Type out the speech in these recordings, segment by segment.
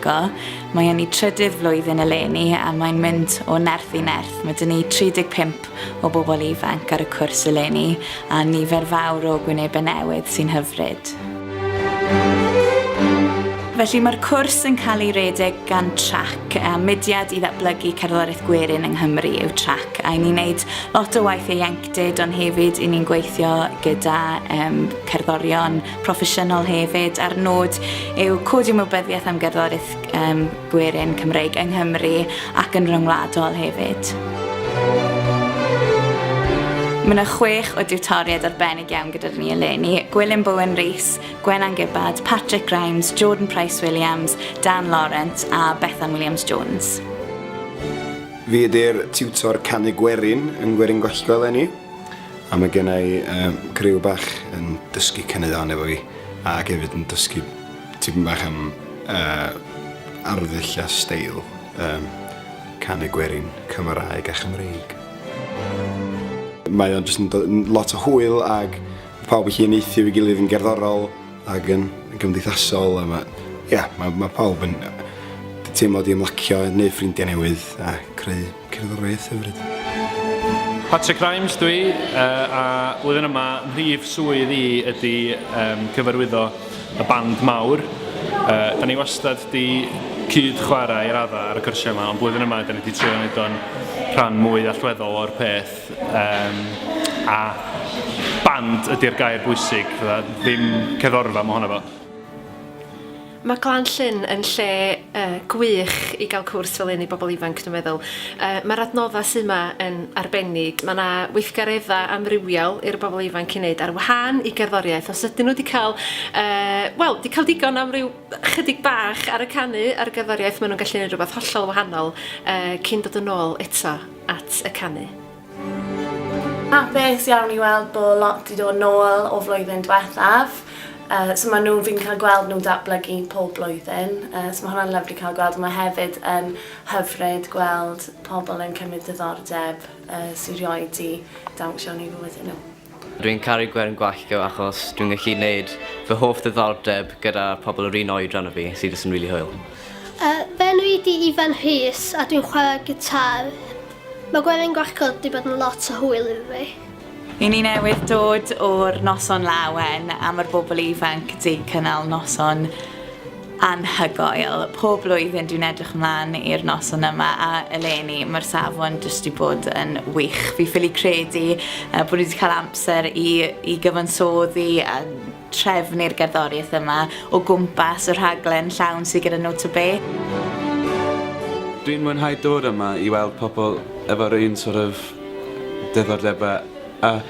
Go. Mae yn ei trydydd flwyddyn eleni a mae'n mynd o nerth i nerth. Mae 'da ni 35 o bobl ifanc ar y cwrs eleni a nifer fawr o gwynebau newydd sy'n hyfryd. Felly mae'r cwrs yn cael ei redeg gan trac, a mudiad i ddatblygu cerddoriaeth gwerin yng Nghymru yw trac, a ni'n neud lot o waith ieuenctid ond hefyd i ni'n gweithio gyda um, cerddorion proffesiynol hefyd, a'r nod yw codi ymwybyddiaeth am gerddoriaeth um, gwerin Cymreig yng Nghymru ac yn rhyngwladol hefyd. Mae yna chwech o diwtoriaid arbennig iawn gyda ni eleni. Gwilym Bowen Rees, Gwenan Gibbard, Patrick Grimes, Jordan Price Williams, Dan Laurent a Bethan Williams Jones. Fi ydy'r tiwtor canu gwerin yn gwerin gollgo eleni. A mae gen i griw bach yn dysgu caneuon efo fi ac hefyd yn dysgu tipyn bach am arddull a steil canu gwerin Cymraeg a Chymreig. Mae o'n jyst yn dod yn lot o hwyl ac mae pawb yn gallu uniaethu efo'i gilydd yn gerddorol ac yn gymdeithasol a mae... ia, mae pawb yn teimlo 'di ymlacio, neud ffrindiau newydd a creu Cerddoriaeth hyfryd. Patrick Grimes dw i, a flwyddyn yma mhrif swydd i ydy cyfarwyddo y band mawr. Da ni wastad 'di cyd chwarae i raddau ar y cyrsiau yma, ond blwyddyn yma da ni 'di trio neud o'n rhan mwy allweddol o'r peth, a band ydy'r gair bwysig, ddim cerddorfa mohono fo. Mae Glan Llŷn yn lle gwych i gael cwrs fel hyn i bobl ifanc dwi'n meddwl. Mae'r adnoddau sydd yma yn arbennig, mae 'na weithgareddau amrywiol i'r bobl ifanc i wneud ar wahân i gerddoriaeth, os ydyn nhw 'di cael yy wel 'di cael digon am ryw 'chydig bach ar y canu a'r gerddoriaeth maen nhw'n gallu 'neud rhywbeth hollol wahanol cyn dod yn ôl eto at y canu. Hapus iawn i weld bod lot 'di dod nôl o flwyddyn dwethaf. Yy so ma' nhw... fi'n cael gweld nhw'n datblygu pob blwyddyn yy so ma' hwnna'n lyfli cael gweld a ma' hefyd yn hyfryd gweld pobl yn cymryd diddordeb yy sy rioed 'di dawnsio yn eu fywydau nhw. Dwi'n caru Gwern Gwallgo achos dwi'n gallu neud fy hoff ddiddordeb gyda pobl yr un oedran â fi, sydd jyst yn rili hwyl. Yy, fy enw i di Ifan Rhys a dwi'n chwarae gitar. Mae Gweren Gwallgo 'di bod yn lot o hwyl i fi. I ni newydd dod o'r Noson Lawen a ma'r bobl ifanc 'di cynnal noson Anhygoel. Pob blwyddyn dwi'n edrych ymlaen i'r noson yma a eleni mae'r safon jyst wedi bod yn wych. Fi ffili credu uh, bod wedi cael amser i, i gyfansoddi a trefnu'r gerddoriaeth yma o gwmpas y rhaglen llawn sydd gyda nhw to be. Dwi'n mwynhau dod yma i weld pobl efo'r un sort of diddordebau a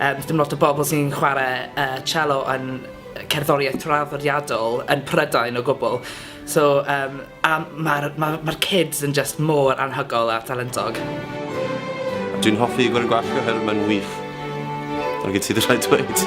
Yy does dim lot o bobl sy'n chware yy cello yn yy cerddoriaeth traddodiadol yn Prydain o gwbl so yym a ma'r ma' ma'r kids yn jyst mor anhygol a talentog. Dwi'n hoffi Gwern Gwalch oherwydd mae'n wych. Dyna gyd sydd rhaid dweud.